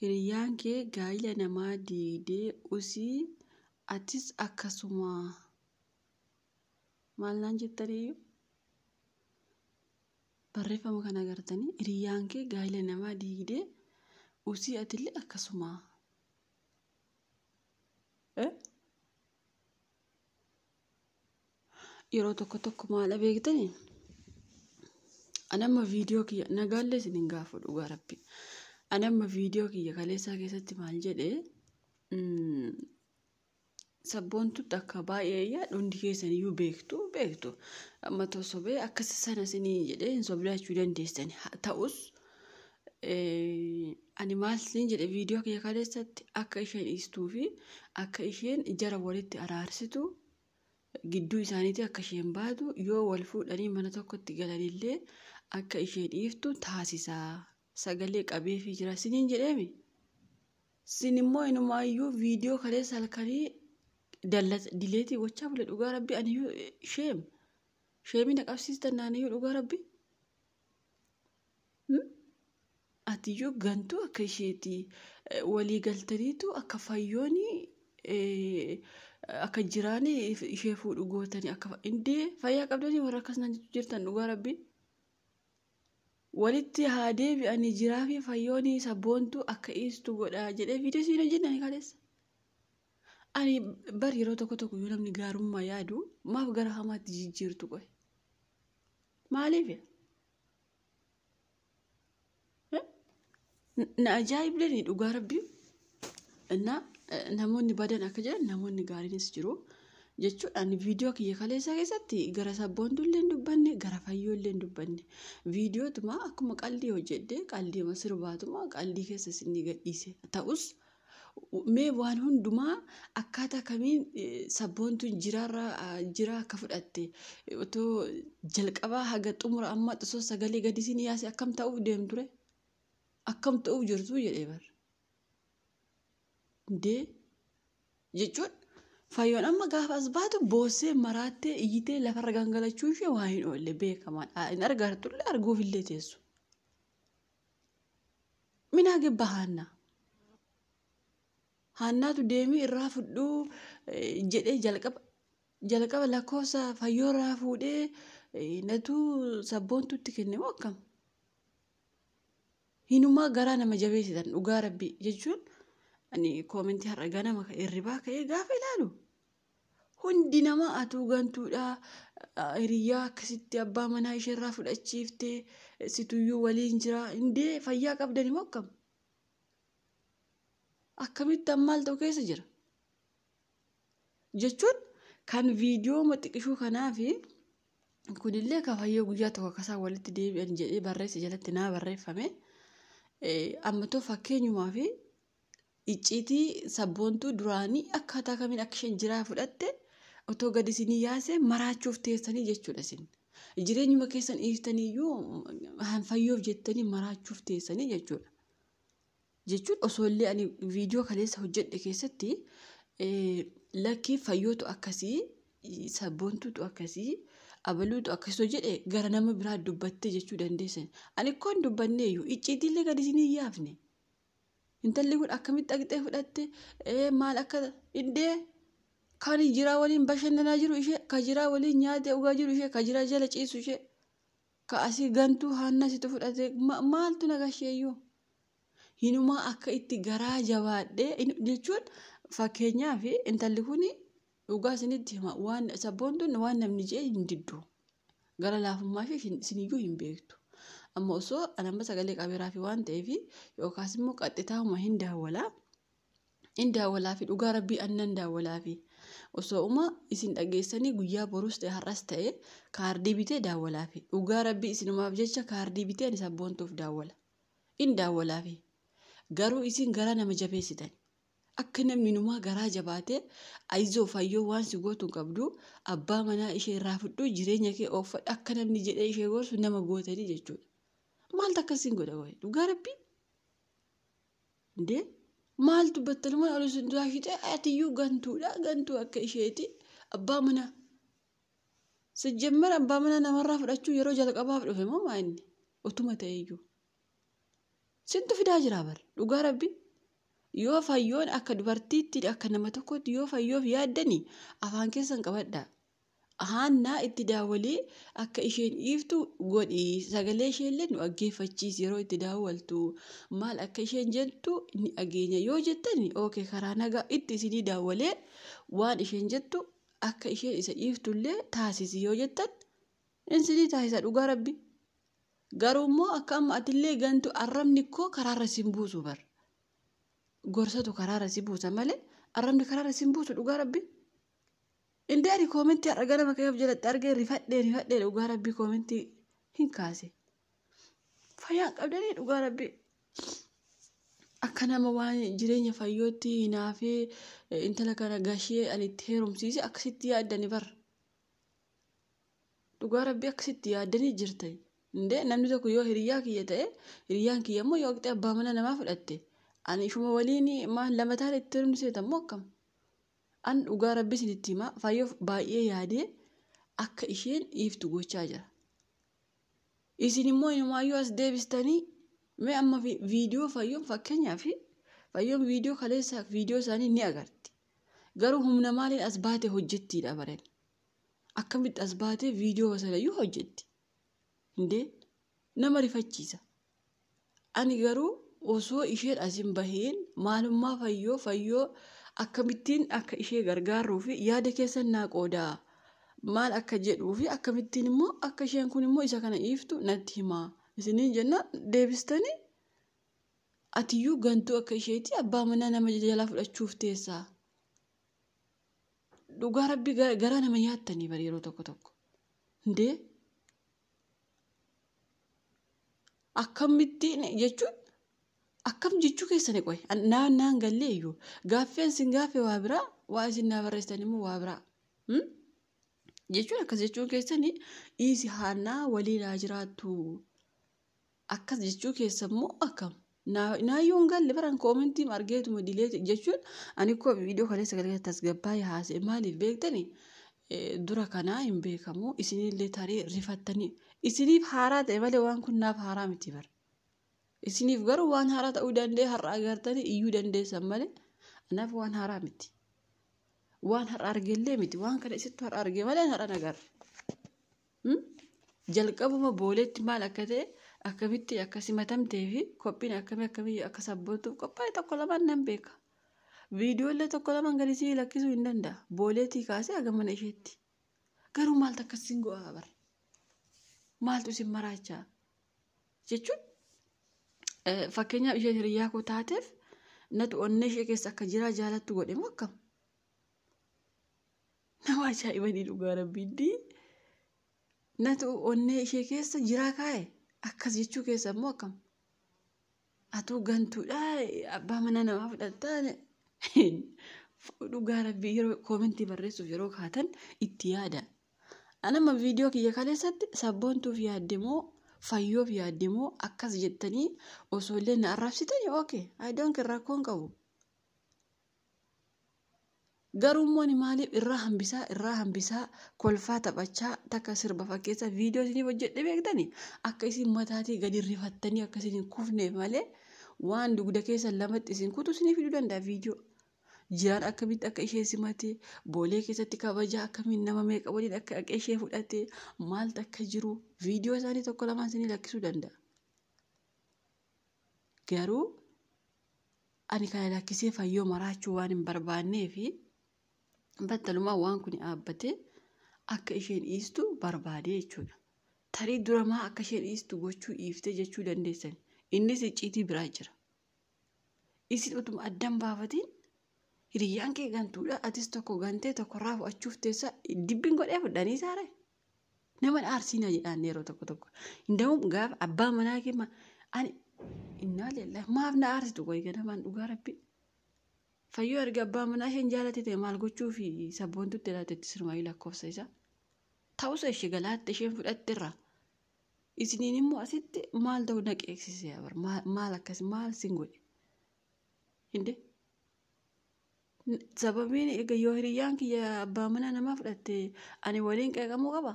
Hiriyyaan kee gaa'ila namaa diigdee usii atis akkasuma maal naan jettaniyyuu barreeffama kana agartanii hiriyyaan kee gaa'ila namaa diigdee usii atillee akkasuma. Eh? yeroo tokko tokko maala beektani anamma viidiyoo kiyya nagaallee isin hin gaafu dhugaa rabbi anamma viidiyoo kiyya kaleessaa keessatti maal jedhe sabboontutti akka baay'ee yaa hundi keessan iyyuu beektu beektu amma too sobee akkasi sana isinii jedhee hin soblaachuu dandeessani ta'us ani maal siin jedhe viidiyoo kiyya kaleessatti akka isheen dhiistuu fi akka isheen jara walitti araarsitu gidduu isaaniitii akka isheen baatu yoo wal fuudhanii mana tokkotti galanillee akka ishee dhiiftu taasisaa sagalee qabeefii jira siniin jedheemi. Sin immoo inumaayyuu viidiyoo kaleessa halkanii dileetii gochaa bule dhugaa rabbi aniyyuu sheem sheemina qabsiistan naaniyyuu dhugaa rabbi. Atiyyuu gantuu akka isheeti walii galtaniitu akka fayyooni akka jiraani ishee fuudhu gootani akka indee fayyaa qabdanii warra akkas naan jechuu jirtan dhugaa rabbii. Walitti haa deebi'anii jiraa fi fayyooni sabboontuu akka iistu godha jedhee viidiyoo siin hojjenne ani kaleessa. Ani bar yeroo tokko tokko yoo namni gaarummaa yaadu maaf gara hamaatti jijjiirtu qoy. Maaliif? Na ajaa'ibleen dhugaa rabbii innaa namoonni badan akka jiran namoonni gaariinis jiru jechuudha. Ani viidiyoo kiyya kaleessaa keessatti gara sabboontuu illee hin dubbanne gara fayyoo illee hin dubbanne viidiyootuma akkuma qaldii hojjedhe qaldiima sirbaatuma qaldii keessa isin gadhiise ta'us Mee waan hundumaa akkaataa kamiin sabboontuun jiraarra jiraa akka fudhatte otoo jalqabaa haga xumura amma osoo sagalee gadisiin yaase akkam ta'uuf deemture akkam ta'uuf jirtu jedhee bar. Dee jechuun fayyoon amma gaafa as baatu boossee maraattee iyyitee lafarra gangalachuu ishee waa hin oolle beekamaadha hin argartulle arguufillee teessu. Minaa gibba haannaa. Haannaatu deemii irraa fudhuu jedhee jalqaba jalqaba lakkoofsa fayyoo irraa fuudhee natuu sabboontutti kenne moo akkam? Hinumaa garaa nama jabeessitan dhugaa rabbii jechuun ani koomentii har'a ganama irribaa ka'ee gaafa ilaalu Hundi nama atuu gantuudha hiriyyaa akkasitti abbaa manaa isheerraa fudhachiifte situyyuu waliin jira indee fayyaa qabdani moo akkam akkamitti ammaal ta'u keessa jira jechuun kan viidiyoo maxiqishuu kanaa fi kunillee ka fayyoo guyyaa tokko akkasaan walitti deebi'an jedhee barreessa jalatti naa barreeffame ammatoo fakkeenyumaa fi Icciitii sabboontuu duraanii akkaataa kamiin akka isheen jiraa fudhatte otoo gadi isinii yaase maraachuuf teessanii jechuudha isin. Jireenyuma keessan dhiiftanii iyyuu han fayyoof jettanii maraachuuf teessanii jechuudha. Jechuun osoo illee ani viidiyoo kaleessa hojjedhe keessatti eh, lakkii fayyootu akkasii sabboontuutu akkasii abaluutu akkasii jedhe gara nama biraa dubbattee jechuu dandeessan. Ani koo hin dubbanneeyyuu icciitiillee gadi isinii hin yaafne. Intalli kun akkamitti dhaqxee fudhatte maal akka iddee kan jiraa waliin bashannanaa jiru ishee ka jiraa waliin nyaatee dhugaa jiru ishee ka jiraa jala ciisu ishee ka asii gantuu haannaa situ fudhate maaltu nagasheeyyuu hinumaa akka itti garaa jabaadhee jechuun fakkeenyaaf intalli kun Dhugaa isinitti hima waan sabboontuun waan namni jee hin diddu. Gara laafummaa ishee isin- isiniyyuu hin beektu. Amma osoo an amma sagalee qabeeraa fi waan ta'eef yookaas immoo qaxxitaahuma hin daawwala. Hin daawwalaa fi dhugaa rabbii an nan daawwalaa fi osoo uma isin dhageessanii guyyaa boruus ta'e har'as ta'e kaardii bitee daawwalaa fi dhugaa rabbii isinumaaf jecha kaardii bitee ani sabboontuuf daawwala. Hin daawwalaa fi garuu isin garaa nama jabeessitan. Akka namni numaa garaa jabaatee ayizoo fayyoo waan si gootu hin qabdu abbaa manaa ishee irraa fudhuu jireenya kee ooffadhu akka namni jedhee ishee gorsu nama gootanii jechuudha. Maaltu akkas sin godha qoy dhugaa rabbii? Indee maaltu battalumaan ol isin duraa shixee atiyyuu gantuudha gantuu akka isheeti abbaa manaa. Sijjammer abbaa manaa namarraa fudhachuu yeroo jalqabaaf dhufe moo maa inni utuma ta'eyyuu. Sintu fidaa jiraa bar. Dhugaa rabbi. Yoo fayyoon akka dubartiitti akka nama tokkotti yoo fayyoof yaaddani afaan keessan qabadha. Haannaa itti daawwalee akka isheen dhiiftu godhi sagalee isheellee nu dhaggeeffachiisi yeroo itti daawwaltu maal akka isheen jettu ni dhageenya yoo jettani ookee karaa nagaa itti isinii daawwalee waan isheen jettu akka isheen isa dhiiftullee taasisi yoo jettan insinii taasisa dhugaa rabbi. Garuu immoo akka amma atillee gantu arrabni koo karaarra sin buusu bar. Gorsatu karaarra si buusa malee arrabni karaarra sin buusu dhugaa rabbi. Indee ani koomentii har'a ganama ka'ee of jalatti argee rifadhee rifadhee dhugaa rabbi koomentii hin kaase. Fayyaan qabdanii dhugaa rabbi. Akka nama waan jireenya fayyootti hinaafee intala kana gashee ani itti heerumsiise akkasitti yaaddani bar. Dhugaa rabbii akkasitti yaaddanii jirtan. Indee namni tokko yoo hiriyyaa kiyya ta'e hiriyyaan kiyya immoo yoo qixee abbaa mana namaa fudhatte ani ishuma waliin maal lama taane itti hirmni seeta immoo akkam. An dhugaa rabbii isinitti himaa faayyoof baay'ee yaadee akka isheen dhiiftu gochaa jira. Isin immoo inumaayyuu as deebistanii mee amma viidiyoo fayyoon fakkeenyaa fi fayyoon viidiyoo kaleessa viidiyoo isaanii ni agarti. Garuu humna maaliin as baate hojjettiidha bareen. akkamitti as baatee viidiyoo sanayyuu hojjetti indee nama rifachiisa ani garuu osoo isheen asin baheen maalummaa fayyoo fayyoo akkamittiin akka ishee gargaarruu fi yaada keessan naa qoodaa maal akka jedhuu fi akkamittiin immoo akka isheen kun immoo isa kana dhiiftu natti himaa isiniin jennaan deebistanii atiyyuu gantuu akka isheetii abbaa manaa nama jalaa fudhachuuf teessaa Dhugaa rabbi garaa nama nyaattanii bari yeroo tokko tokko. Hundee akkamittiin jechuun akkam jechuu keessani qoy naan naan gallee iyyuu gaaffeen sin gaaffe waa biraa waa isin naa barreessitan immoo waa biraa. Jechuun akkas jechuun keessani dhiisi haannaa waliin haa jiraattu. Akkas jechuu keessan moo akkam? Naayyoo hin galle baran koomentii argeetuma dilee jechuun ani koo viidiyoo kaleessa galgala tasgabbaa'ee haasa'e maaliif beektani dura kanaa hin beekamu isinillee tarii rifattanii isiniif haaraa ta'e malee waan kun naaf haaraa miti bara. Isiniif garuu waan haaraa ta'uu danda'e har'a agartanii iyyuu dandeessan malee anaaf waan haaraa miti. Waan har'a argellee miti waan kana isittu har'a arge malee har'a nagarre. Jalqabuma booleetti maal akka ta'e akkamitti akka simatamtee fi qophiin akkamii akkamii akka sabbootuuf qophaa'e tokko lamaan nan beeka. Viidiyoollee tokko lamaan gadi sii lakkisuu hin danda'a. Booleetii kaasee haga mana isheetti. Garuu maaltu akkas isin go'aa bar? Maaltu isin maraachaa? Jechuun fakkeenyaaf isheen hiriyyaa koo taateef natu onnee ishee keessa akka jiraa jaalattu godhe moo akkam? Nama ajaa'ibanii dhugaa rabbiitti natu onnee ishee keessa jiraa kaa'e akkas jechuu keessa immoo akkam atuu gantuudha abbaa mana namaa fudhattaa dhugaa rabbii yeroo koomentii barreessuuf yeroo kaatan itti yaada. Anama viidiyoo kiyya kaleessatti sabboontuuf yaadde moo fayyoof yaadde moo akkas jettanii osoo illee na arrabsitanii ookee ayidoonki rakkoon qabu. Garuu immoo ani maaliif irraa hambisaa irraa hambisaa kolfaa taphachaa takka sirba fakkeessa viidiyoo isiniif hojjedhe beektani akka isin mataatii gadi rifattanii akka isin hin kufneef malee waan dugda keessan lamatti isin kutu isinii fiduu danda'a viidiyoo. Jiraan akkamitti akka ishee simate boolee keessatti kabajaa akkamiin nama meeqa waliin akka akka ishee fudhate maaltu akka jiru viidiyoo isaanii tokko lamaan isinii lakkisuu danda'a. Garuu ani kana lakkisee fayyoo maraachuu waan hin barbaannee fi battalumaa waan kun dhaabbatee akka isheen dhiistu barbaade jechuudha. Tarii duramaa akka isheen dhiistu gochuu dhiiftee jechuu dandeessan. Innis icciitii biraa jira. Isin utuma addan baafatiin hiriyyaan kee gantuudha atis tokko gantee tokkorraa fudhachuuf teessa dibbiin godhee fudhanii saaree. Nama aarsiinaa jedhaan yeroo tokko tokko. Indawum gaafa abbaa manaa kee ma- ani innaa leellaa maaf na aarsitu qoy ganamaan dhugaa rabbi. Fayyoo erga abbaa manaa isheen jaalate ta'e maal gochuu fi sabboontutti laata itti sirmaayii lakkoofsa isaa. Ta'usa ishee galaatte isheen fudhatte irraa. Isiniin immoo asitti maal ta'u na qeeksisee abar maal akkas maal sin godhe. Hinde. Sababiin egaa yoo hiriyyaan kiyya abbaa manaa namaa fudhatte ani waliin qeeqamuu qaba?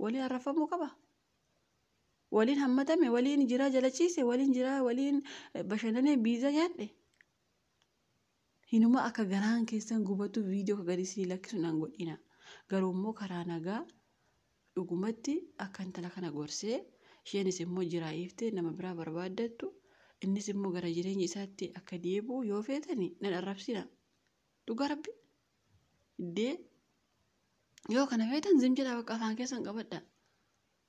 Waliin arrafamuu qaba? Waliin hammatame, waliin jiraa jala ciise, waliin jiraa waliin bashannanee biizaa nyaadhe? Hinuma akka garaan keessan gubatu viidiyoo akka gadisii lakkisu nan godhina. Garuu immoo karaa nagaa Dhugumatti, akka intala kana gorsee, isheenis immoo jiraa hiiftee nama biraa barbaaddattu, innis immoo gara jireenya isaatti akka deebi'u yoo feetani nan arrabsina. Dhugaa Rabbi. D. Yoo kana feetan zim jedhaa bakka afaan keessan qabadha.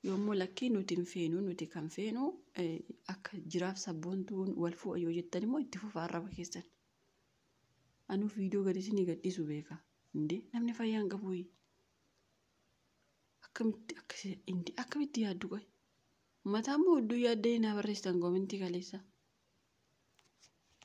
Yoo immoo lakkii nuti hin feenu, nuti kan feenu eh, akka jiraaf sabboontuun wal fu'a yoo jettan immoo itti fufa arraba keessan. Anuu viidiyoo gadi isinii gadhiisu beeka. Indee namni fayyaa hin qabu. akkamitti akkasi indi akkamitti yaaddu qoy mataa immoo hedduu yaaddee naa barreessitan koomentii kaleessa